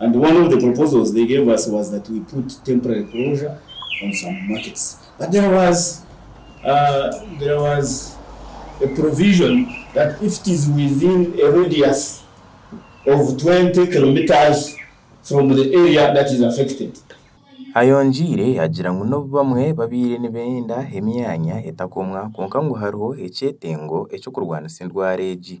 and one of the proposals they gave us was that we put temporary closure on some markets but there was there was a provision that if it is within a radius of 20 kilometres from the area that is affected. Ayongiire agira ngu n'obu bamwe babaire nibenda emyanya etakomwa kwonka ngu hariho ekyetengo eky'okurwanisa endwara egi.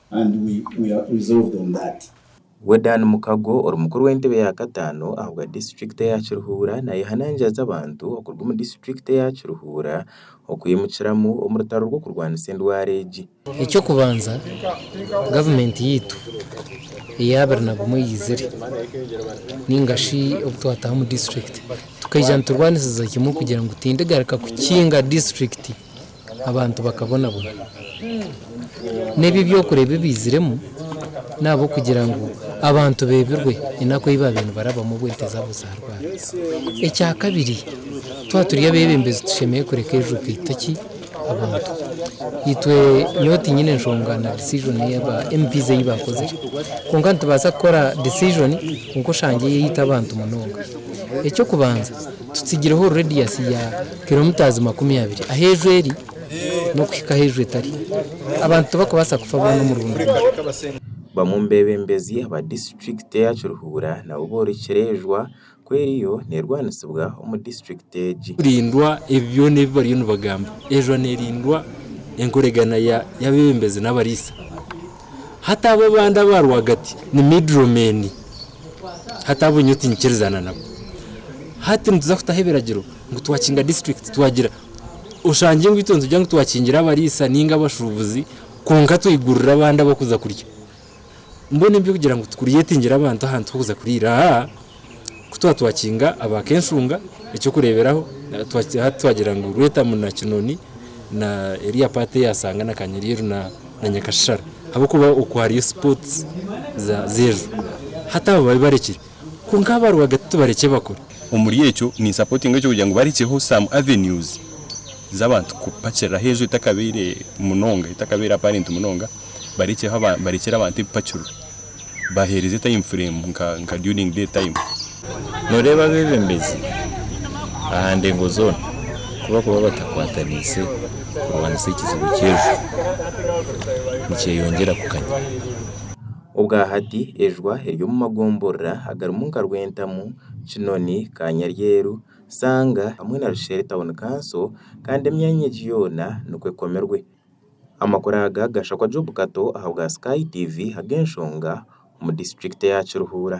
Wedan Mukago ori mukuru w'entebe ya kataano ahabwa disiturikiti eya Kiruhura nayehanangiraza abantu okuruga omu disiturikiti eya Kiruhura okwimukiramu omu rutaro rw'okurwanisa endwara egi. Eky'okubanza gavumenti yaitu eya abiri na gumwe eizire ninga shi obu twataha omu disiturikiti tukaija niturwanisiza kimwe kugira ngu tindigaruka kukinga disiturikiti. abantu bakabonabona. N'ebi ebyokureba ebiiziremu n'ahabw'okugira ngu abantu beebirwe enaku ei baabaire nibarabamu obwo ente zaabo zaarwara. Ekya kabiri, twaba turi abeebembezi tushemereire kureka ebizibu byaitu ki, abantu. Itwe nyowe tiinyine nshonga na decision ei aba MPs ei baakozire. Kwonka nitubaasa kukora decision kwonka oshange eyaitu abantu munonga. Eky'okubanza. Tutsigireho rediyasi ya kiromitazi makumi abiri ahu enju eri n'okuhika ahu enju etari. Abantu tibakubaasa kufa boona omurundu gumwe. Bamwe omu beebembezi aba disiturikiti eya Kiruhura nabo borekire enjwa ku eriyo neerwanisibwa omu disiturikiti egi. Kurindwa ebi byona ebi bariyo nibagamba, enjwa neerindwa enkoregana y'abeebembezi n'abariisa. Hati abo abandi aba rwagati ni middle men. Hati abo nyowe tinkikirizana nabo. Hati nituza kutaho ebiragiro ngu twakinga district twagira, oshange ngu itwe nitugira ngu twakingire abariisa ninga abashuubuzi kwonka twigurire abandi ab'okuza kurya. Mbwenu ebi by'okugira ngu tu creatingire abantu ahantu h'okuza kuriira, aa. ku twatwakinga aba kenshunga ekyokureberaho hati twagira ngu rwetamu na kinoni na eriya part eyasanga na kanyeryeru na nyakashishara habwokuba okwo hariyo sports zejo hati abo babi barekire kwonka aba rwagati tubarekye bakore. Omuri ekyo ni supportinga ekyo kugira ngu barekyeho some avenues zabantu kupakiriraho enju etakabaire munonga etakabaire apparent munonga barekyeho barekyere abantu ebipakirwe. bahereze time frame nka during day time. Noreeba abebembezi aha ndengo zoona kubakuba batakwataniise kurwanisa ekizibu ky'ejwa nikyeyongyera kukanya. Obwahati ejwa eri omu magomborora agarimu nka Rwentamu, Kinoni, Kanyaryeru, Sanga hamwe na Rushere Town Council kandi emyanya egi yoona nikwo ekomirwe. Amakuru aga gashakwa Job Kato aha bwa Sky TV ahabw'enshonga omu disiturikiti ya Kiruhura.